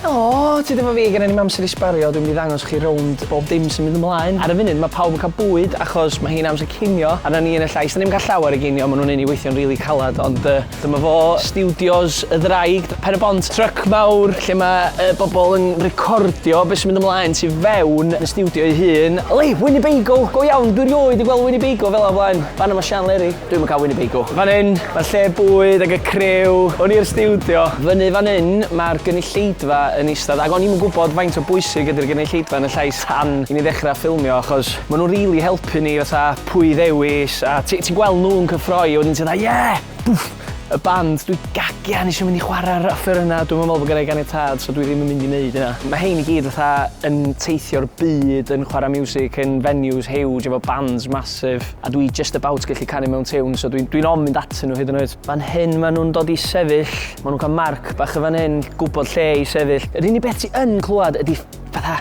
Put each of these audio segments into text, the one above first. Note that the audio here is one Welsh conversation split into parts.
Helo, ti ddim yn fi, gen i ddim amser i sbario, dwi'n mynd i ddangos chi rownd bob dim sy'n mynd ymlaen. Ar y funud mae pawb yn cael bwyd achos mae hi'n amser cinio a na ni yn y llais dan ni'm yn cael llawer o ginio, maen nhw'n neud ni weithio'n rili calad ond yy dyma fo, stiwdios y ddraig, Pen-y-bont, tryc mawr lle mae y bobl yn recordio be sy'n mynd ymlaen tu fewn yn y stiwdio ei hun. Helo, Winnebago, go iawn, dwi 'rioed 'di gweld Winnebago fela o blaen, fan'na mae Sian Leri. Dwi'm yn cael Winnebago. Fan hyn, mae'r lle bwyd ac y criw. Hwn i'r stiwdio. Fyny fan hyn, mae'r gynulleidfa yn eistedd ac o'n i'm yn gwybod faint o bwysig ydy'r gynulleidfa yn y llais tan i ni ddechrau ffilmio achos maen nhw'n rili helpu ni fatha pwy i ddewis a ti- ti'n gweld nhw'n cyffroi a wedyn ti fatha 'ie! Bwff! Y band, dwi gagian eisiau mynd i chwarae'r offerynnau, dwi'm yn meddwl bod gynna i ganiatâd so dwi ddim yn mynd i wneud hynna. Mae rhein i gyd fatha yn teithio'r byd yn chwarae miwsig yn venues huge efo bands massive. A dwi just about gallu canu mewn tiwn, so dwi'n dwi ofn mynd atyn nhw hyd yn oed. Fan hyn maen nhw'n dod i sefyll, maen nhw'n cael marc bach yn fan hyn, gwybod lle i sefyll. Yr unig beth ti yn clywed ydy fatha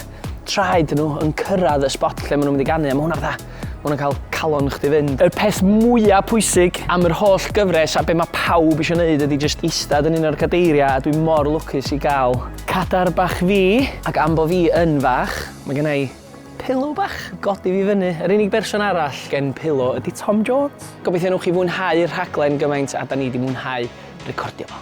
traed nhw yn cyrraedd y spot lle maen nhw'n mynd i ganu, a mae hwnna fatha, mae hwnna'n cael calon chdi fynd. Yr peth mwyaf pwysig am yr holl gyfres a be mae pawb eisiau gwneud ydy just eistedd yn un o'r cadeiriau a dwi mor lwcus i gael cadar bach fi, ac am bo fi yn fach, mae gennau Pillow bach! Godi fi fyny! Yr unig berson arall gen Pillow ydi Tom Jones! Gobeithio newch chi fwynhau'r rhaglen gymaint a 'da ni 'di mwynhau recordio fo.